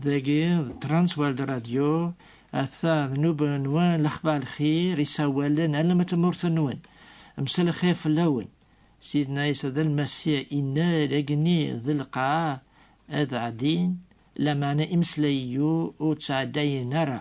Dagi d Transworld Radio ata d nuba-nwen lexbar lxir isawalen alem n tmurt-nwen mselxir fell-awen sidna Isa d lmasiya innar agni d lqaɛ ad ɛdin lamana imeslayiyu ur ttɛeddayen ara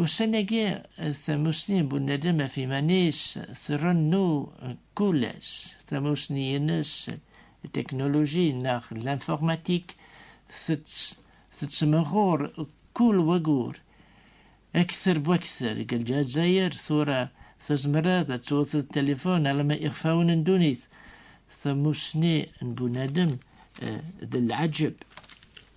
Ussan-agi, tamussni n unadem ɣef iman-is trennu kul ass. Tamussni-nnes n teknuluji neɣ lanfurmatik tettmehhuṛ kul wayyur. Akter bu akter deg Lezzayer tura tezmreḍ ad twteḍ tilifun alamma iɣfawen n ddunit. Tamussni n unadem d lɛeǧǧeb.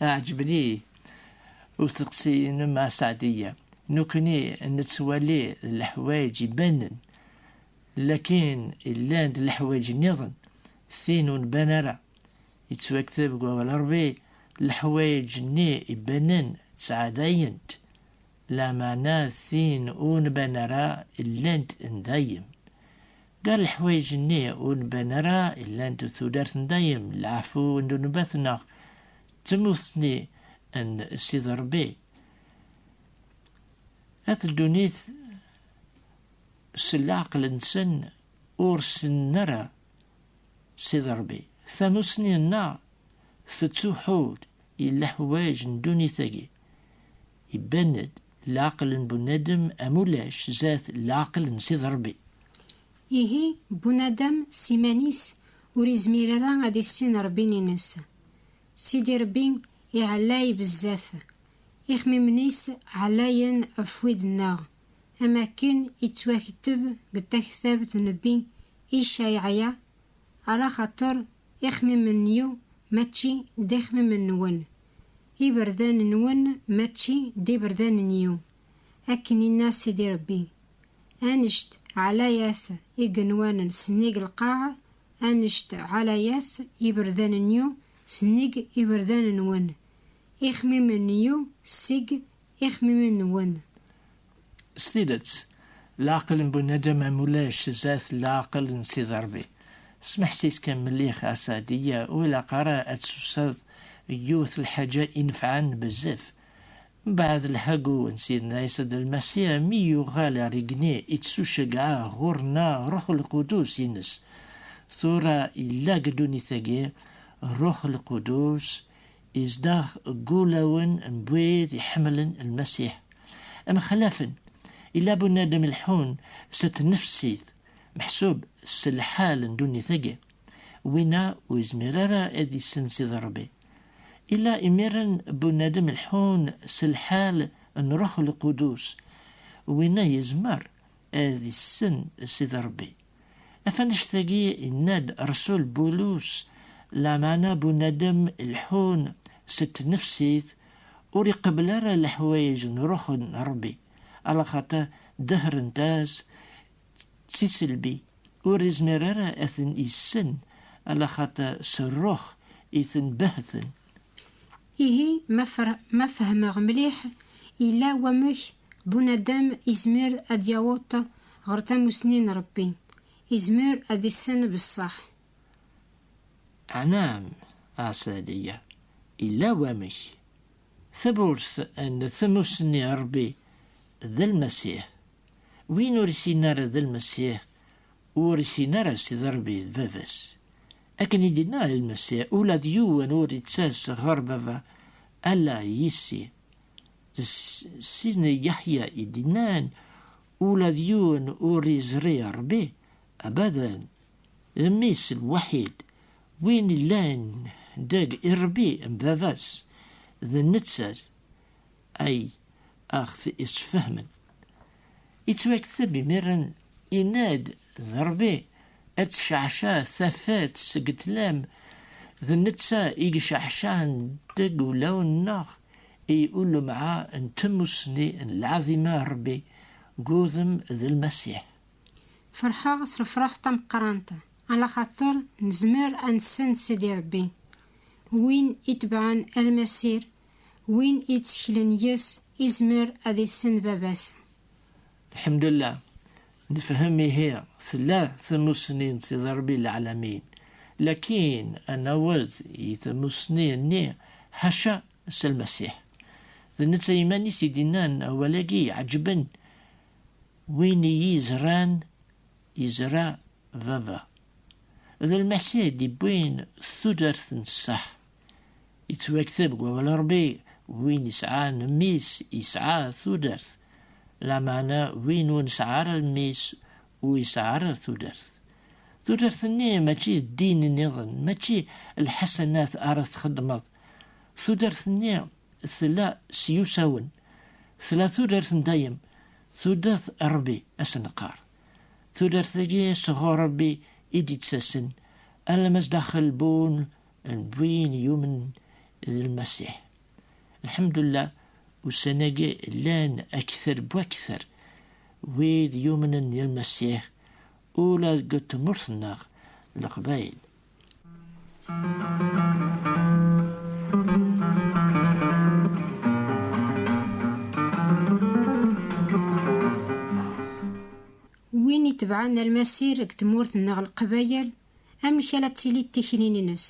Ɛeǧben-iyi usteqsi-inem a Saɛdiya. Nekkni nettwali leḥwayeǧ ibanen, lakin llan-d leḥwayeǧ nniḍen, tin ur nban ara. Yettwakteb deg Wawal n Ṛebbi, Leḥwayeǧ-nni ibanen ttɛedayent, lameɛna tin ur nban ara llant n dayem. Gar leḥwayeǧ-nni ur nban ara llant tudert n dayem, leɛfu n ddnubat neɣ d tmuttni n Sidi Rebbi. At ddunit s leɛqel-nsen ur ssnen ara Sidi Rebbi. Tamussni-nneɣ tettuḥu-d i leḥwayeǧ n ddunit-agi. Iban-d leɛqel n bunadem am ulac zdat leɛqel n Sidi Ṛebbi. Ihi, bunadem s iman-is ur izmir ara ad issin Ṛebbin-ines. Sidi Ṛebbi iɛellay bezzaf, ixmimen-is ɛellayen ɣef wid-nneɣ, am akken ittwaketteb deg taktabt n nnebbi Icayɛya, Ala xaṭer ixmimen-iw mačči d ixmimen-nwen. Iberdan-nwen mačči d iberdan-nyu, akken inna Sidi Rebbi, Anect ɛlayat igenwan n sennig lqaɛ, anect ɛlayat iberdan-nyu sennig iberdan-nwen, ixmimen-nyu seg ixmimen-nwen. S tidet, leɛqel n bunadem am ulac zdat leɛqel n Sidi Ṛebbi. Smeḥsis kan mellix a Saɛdiya, ur ilaq ara ad tuseḍ deg yiwet lḥaǧa inefɛen bezzaf. Mbeɛd lḥagu n Sidna Ɛisa d Lmasiḥ mi yuɣal ɣer igenni i ttuceggɛeɣ ɣur-neɣ Ṛṛuḥ Lqudus ines. Tura illa deg ddunit-agi Ṛṛuḥ Lqudus Izdeɣ deg wulawen n wid iḥemmlen Lmasiḥ. Mxelafen, illa bunadem leḥḥun s tnefsit, meḥsub s lḥal n ddunit-agi. Winna ur yezmir ara ad isens i Rebbi. Illa imiren bunadem leḥḥun s lḥal n Ruḥ Lqudus. Winna yezmer ad issen s i Rebbi. Afanect-agi yenna-d Resul Bulus, lameɛna bunadem ileḥḥun s tnefsit ur iqebbel ara leḥwayeǧ n Ruḥ n Ṛebbi, alaxaṭer dehhrent-as d tiselbi, ur izmir ara ad ten-issen, alaxaṭer s Ṛṛuḥ i ten-behhten. Ihi ma fehmeɣ mliḥ, yella wamek bunadem izmer ad yaweḍ ɣer tamusni n Ṛebbi, izmer ad issen beṣṣeḥ. Ɛnaam, Ɛeṣɛdiya, yella wamek. Tawwurt n tmusni n Ṛebbi d Lmasiḥ. Win ur isin ara d Lmasiḥ, ur isin ara Sidi Ṛebbi d Baba-s. Akken i d-inna Lmasiḥ, ula d yiwen ur ittas ɣer Baba, ala yis-i. D sin Yeḥya i d-innan, ula d yiwen ur iẓri Rebbi, abadan, Mmi-s lwaḥid, win illan deg Rebbi n Baba-s, d netta-s. ay aɣ-t-yessfehmen. Yettwakteb imiren inna-d d Rebbi, ad tecceɛceɛ tafat seg ṭlam, d netta i iceɛceɛen deg ulawen-nneɣ i ulemɛa n tmusni n lɛaḍima n Rebbi deg wudem d Lmasiḥ. Ferḥeɣ s lefraḥ tameqqrant, ala xaṭer nezmer ad nessen Sidi Rebbi. Win itebɛen Almasir Win itteklen yes izmer ad issen baba-s. Lḥemdullah, nefhem ihi tella tamussni n Sidi Rebbi Leɛlamin, lakin ad naweḍ i tamussni-nni ḥaca s Lmasiḥ. D netta iman-is i d-innan awal-agi iɛeǧǧben, Win iyi-izran, izra Baba. D Lmasiḥ i d-iwwin tudert n ṣṣeḥ Yettwakteb deg wawal n Ṛebbi, Win isɛan mmi-s yesɛa tudert. Lameɛna win ur nesɛi ara mmi-s, ur yesɛi ara tudert. Tudert-nni mačči d ddin nniḍen, mačči lḥasanat ara txeddmeḍ. Tudert-nni tella s yusawen. Tella tudert n dayem, tudert n Ṛebbi, ad s-neqqar. Tudert-agi sɣur Ṛebbi i d-yettasen, alamma zdaxel bu d win yumen d lmasiḥ. Lḥemdullah, ussan-agi llan akter n wakter wid yumnen d lmasiḥ ula deg tmurt-nneɣ Leqbayel. Win itebɛen almasir deg tmurt-nneɣ Leqbayel amek ara d-tili d tikli-nnes.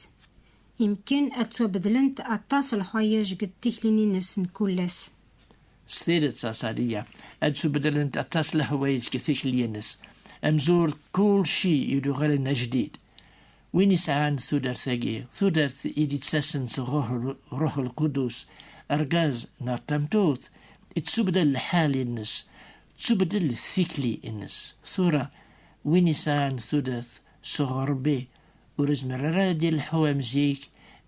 Yemkin ad ttwabeddlent aṭas lḥwayeǧ deg tikli-nnes n kul ass. S tidet a Saliya, ad ttwabeddlent aṭas lehwayeǧ deg tikli-nnes. Amzur d kulci yuɣalen ajdid. Win yesɛan tudert-agi, tudert i d-yettasen seg Ṛṛuḥ Lqudus, argaz neɣ tameṭṭut, yettwabdal lḥal-nnes, tettwabeddel tikli-nnes. Tura, Win isɛan tudert sɣur Rebbi ur izmir ara ad d-ileḥḥu am zik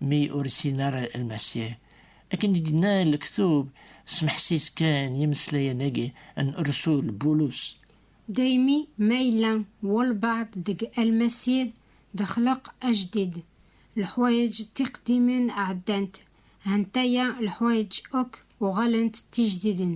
mi ur issin ara Lmasiḥ. Akken i d-yenna lektub, semḥes-is kan yimeslayen-agi n rrsul Bulus. Daymi ma yella walbaɛḍ deg Lmasiḥ d axleq ajdid, leḥwayeǧ tiqdimin ɛeddant, hantaya leḥwayeǧ akk uɣalent d tijdidin.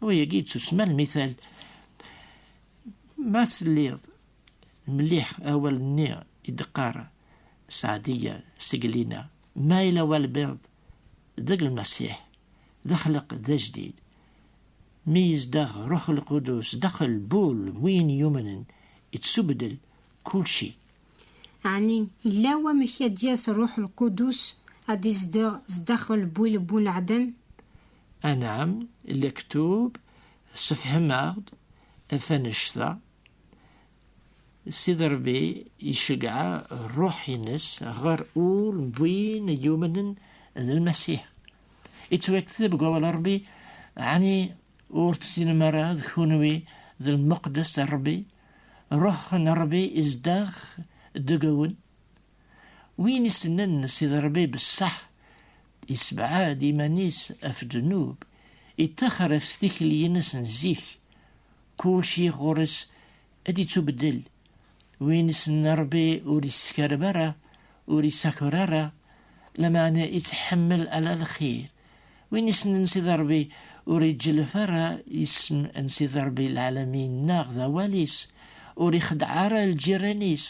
Wa yagi yettusma lmithal. Ma telliḍ mliḥ awal-nni i d-qqar Saɛdiya Seglina, ma yella walbiḍ deg lmasiḥ, d axleq d ajdid, mi yezdeɣ Ruḥ Lqudus daxel bul win yumnen, yettsubeddel kulci. Ɛni yella wamek ad d-yas Ruḥ Lqudus ad izdeɣ zdaxel bul n uneɛdam? Anam, lektub, sefhem-aɣ-d tanect-a. Sidi Ṛebbi iceggeɛ ṛṛuḥ-ines ɣer ul n win yumnen d Lmasiḥ. Ittwakteb deg wawal n Ṛebbi, ɛni ur tessinem ara d kunwi d lmeqdes n Ṛebbi, ṛṛuḥ n Ṛebbi izdeɣ deg-wen? Win isnen Sidi Ṛebbi bessaḥ, Yessebɛad iman-is af ddnub, ittaxer af tikli-ines n zik, kulci ɣur-s ad d-ittubeddel, win issen Rebbi ur issekareb ara, ur isakur ara, lameɛna ittḥemmel ala lxir, win issnen Sidi Rebbi ur iǧǧellef ara isem n Sidi Rebbi lɛalamin neɣ d awal-is, ur ixeddeɛ ara lǧiran-is,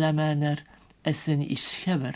lameɛna ad ten-isskaber.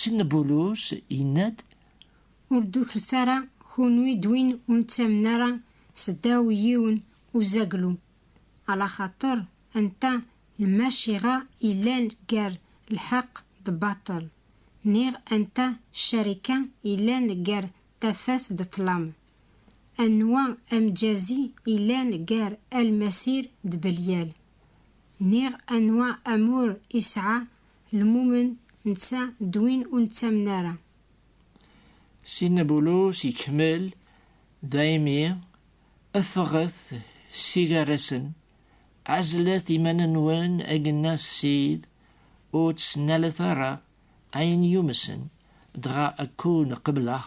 Sidna Bulus yenna-d. Ur d-ukret ara kunwi d win ur nettamen ara seddaw yiwen uzaglu, alaxaṭer anta lmaciɣa yellan gar lḥeqq d baṭel, niɣ anta ccarika yellan gar tafat d ṭṭlam, anwa amǧazi yellan gar Almasir d Belyal, niɣ anwa amur isɛa Lmumen netta d win ur nettamen ara. Sidna Bulus ikemmel, Daymi ffɣet s igarrasen, ɛezlet iman-nwen agenna s Ssid, ur ttnalet ara ayen yumsen, dɣa ad kkun qebleɣ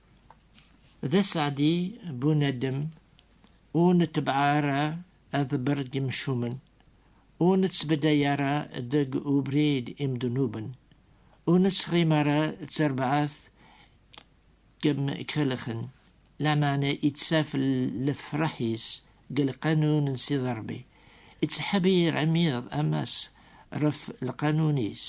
D aseɛdi bunadem ur netbeɛ ara aḍebber n yimcumen, ur nettbedday ara deg ubrid imednuben, ur nettɣim ara d tarbaɛt deg yemkelxen, lameɛna ittaf lefraḥ-is deg lqanun n Sidi Ṛebbi, ittḥebir amiḍ amas ɣef lqanun-is,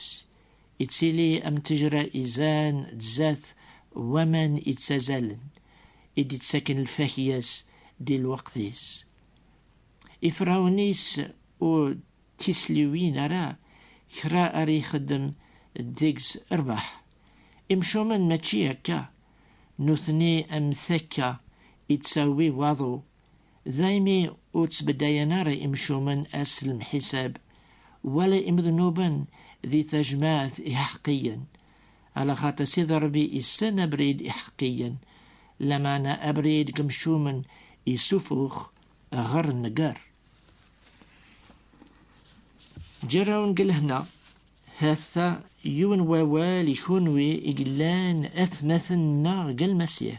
Ittili am tejra izan tzat waman ittazalen, i d-ittaken lfakya-s di lweqt-is. Ifrawen-is ur d-tisliwin ara kra ara ixeddem deg-s rrbeḥ. Imcumen mačči akka, nutni am takka ittawi waḍu Daymi ur ttbeddayen ara imcumen ass lemḥisab, wala imednuben di tajmaɛt iḥeqqiyen. Ala xaṭi Sidi Ṛebbi issen abrid iḥeqqiyen, lameɛna abrid n yemcumen isufux ɣer nnger. Ǧerrawen deg lehna, ha-t-a yiwen wawal i kunwi i yellan atmaten-nneɣ deg Lmasiḥ.